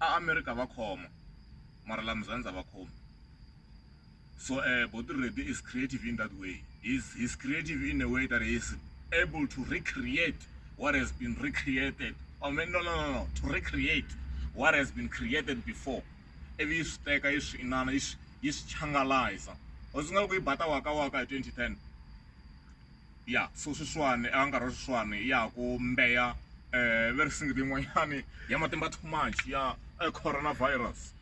a a mi ri ta va khoma mara la muzanzi a va khomi so uh, Boti Reddy is creative in that way he's, he's creative in a way that he is able to recreate what has been recreated I oh, mean, no, no, no, no, to recreate what has been created before ivi yi swi teka yi swi inana yi swi changalayiza u swi nga ku yi bata waka waka hi 2010 ya so sweswiwani a nkarhi wa sweswiwani ya ha ku mbeya um ve ri singita yin'wanyani ya matimba too much ya corona virus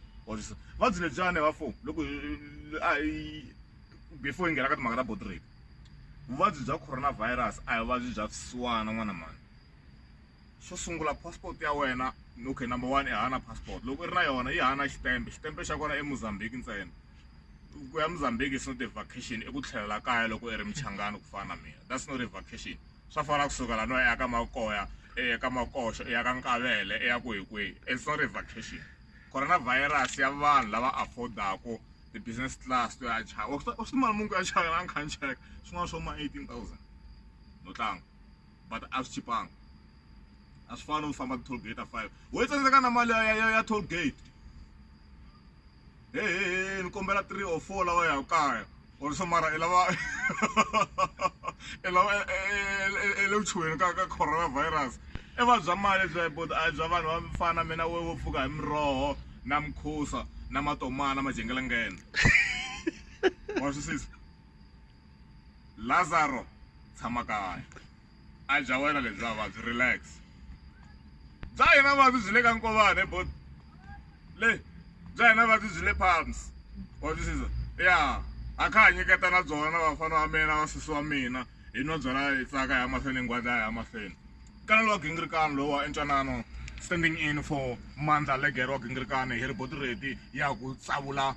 vabyi lebyani vafo loko a hi before hi nghena ka timhaka ta body rape vuvabyi bya corona virus a hi vuvabyi bya swisiwana n'wana mhani xo sungula passport ya wena okay number one i hava na passport loko i ri na yona yi hava na xitempe xitempe xa kona eMozambique ntsena ku ya Mozambique is not a vacation i ku tlhelela kaya loko i ri michangani ku fana na mina that's not a vacation swa fana ku suka lani u ya ka makoya i ya ka makoxo i ya ka nkavele i ya ku hi kwihi it's not a vacation ku ri na virus ya vanhu lava afford-aku ti-business class to ya chava u swi mali munhu ku ya chava yena a ni kha ni cheka swin'wana swo ma eighteen thousand no tlanga. but a swi chipanga a swi fani no famba ti-toll gate a five wo yi tsandzeka na mali ya ya ya toll gate hehehe ni kombela three or four lawa ya kaya or so mara i lava i lava i le vuchuheni ka ka coronavirus i va bya mali bya but a bya vanhu va fana mina we wo pfuka hi miroho na mukhusa na matomana majengelengene wa swisisa Lazaro tshama kaya a dya wena lebya vabyi relax bya hina vabyi byi le ka nkovane bot le bya hina vabyi byi le palms watwisisa ya a kha ha nyiketa na byona na vafana wa mina wa sesi wa mina hi nwa byona hi tsaka ya mahlweni hi ngwadla ya mahlweni kana lowa gingirikani lowa entwanano standing in for mandla legere wa gingirikani hi ri boti reti ya ku tsavula